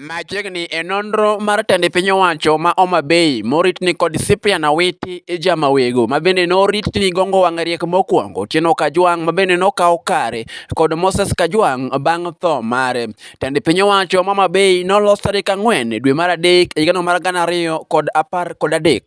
Machiegni e nonro mar tend piny owacho ma Homa Bay morit ni kod Cyprian Awiti Ijamawego mabende norit ni gongo wang' riek mokwongo, Otieno Kajwang' mabende nokawo kare kod Moses Kajwang' bang' tho mare. Tend piny owacho ma Homa Bay nolos tarik ang'wen dwe mar adek higano mar gana ariyo kod apar kod adek.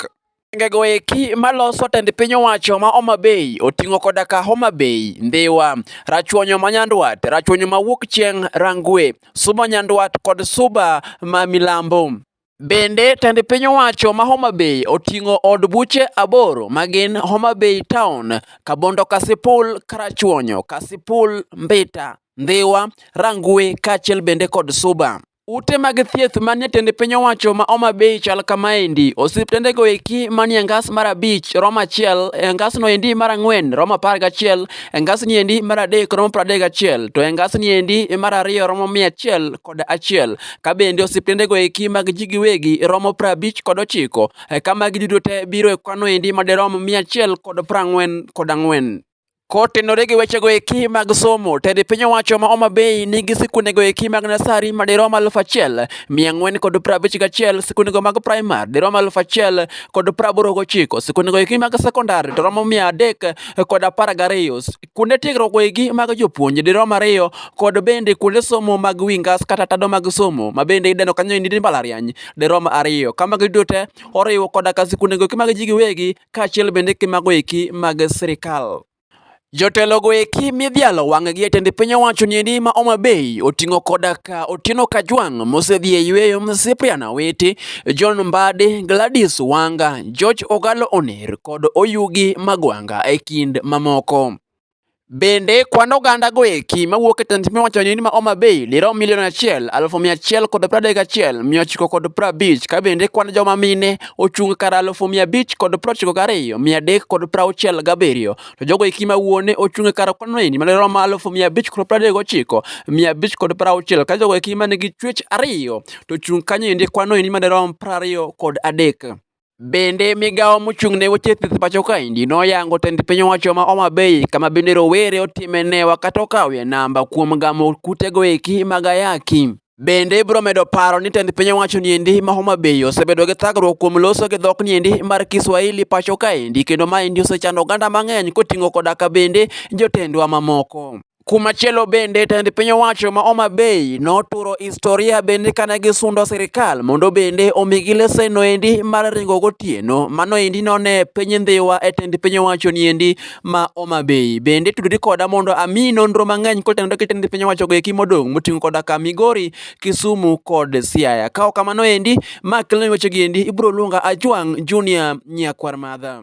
Gwengego eki maloso tend piny owacho ma Homa Bay oting'o koda ka Homa Bay, Ndhiwa, Rachuonyo ma Nyandwat, Rachuonyo ma Wuok Chieng', Rangwe, Suba Nyandwat kod Suba ma Milambo. Bende, tend piny owacho ma Homa Bay oting'o od buche aboro ma gin Homa Bay Town, Kabondo Kasipul, Karachuonyo, Kasipul, Mbita, Ndhiwa, Rangwe kaachiel bende kod Suba. Ute mag thieth man jatend piny owacho ma Homa Bay chal kama endi. Osiptende go eki man e ngas mar abich romo achiel, e ngas no endi mar ang'wen romo apar gachiel, e ngas ni endi mar adek romo pradek gachiel, to e ngas ni endi mar ariyo romo mia achiel kod achiel. Ka bende osiptende go eki mag ji giwegi romo prabich kod ochiko. Ka magi duto te biro e kwano endi madirom mia achiel kod prang'wen kod ang'wen. Kotenore gi wechego eki mag somo, tend piny owacho ma Homa Bay nigi sikundego eki mag nasari ma dirom aluf achiel mia ang'wen kod prabich gachiel, sikundego mag primar dirom aluf achiel kod praboro gochiko, sikundego eki mag sekondar to romo mia adek kod apar gariyo, kuonde tiegruok eki mag jopuonj dirom ariyo kod bende kuonde somo mag wi ngas kata tado mag somo ma bende ideno kanyo ni mbalariany dirom ariyo. Ka magi duto te oriwo koda ka sikundego eki mag ji giwegi kaachiel bende gi mago eki mag sirkal. Jotelo go eki midhialo wang'gi e tend piny owacho ni endi ma Homa Bay oting'o koda ka Otieno Kajwang' mosedhi e yueyo, Cyprian Awiti, John Mbadi, Gladys Wanga, George Ogalo Oner kod Oyugi Magwanga e kind mamoko. Bende kwan oganda go eki mawuok e tend piny owacho ni ma Homa Bay dirom milion achiel alufu mia achiel kod pradek achiel mia ochiko kod prabich ka bende kwan joma mine ochung' kar alufu mia abich kod prochiko gariyo mia adek kod prauchiel gabiriyo to jogo eki ma wuone ochung' e kar kwan maendi madirom alufu mia abich kod pradek gochiko mia abich kod prauchiel ka jogo eki man gi chuech ariyo to chung' kanyo endi kwan no endi madirom prariyo kod adek. Bende migawo mochung' ne weche thieth pacho kaendi noyango tend piny owacho ma Homa Bay kama bende rowere otime newa kata okawie namba kuom gamo kutego eki mag ayaki. Bende ibiro medo paro ni tend piny owacho niendi ma Homa Bay osebedo gi thagruok kuom loso gi dhok niendi mar Kiswahili pacho kaendi kendo maendi osechando oganda mang'eny koting'o koda ka bende jotendwa mamoko. Kumachielo bende tend piny owacho ma Homa Bay noturo historia bende kane gisundo sirikal mondo bende omigi lesen noendi mar ringo gotieno mano endi none piny ndhiwa e tend piny owacho niendi ma Homa Bay. Bende tudri koda mondo ami nonro mang'eny kotenore gi tend piny owacho goeki modong' moting'o koda ka Migori, Kisumu kod Siaya. Kaok kamano endi ma kelo weche gi endi ibiro luonga Ajwang' Junior Nyakwar Madha.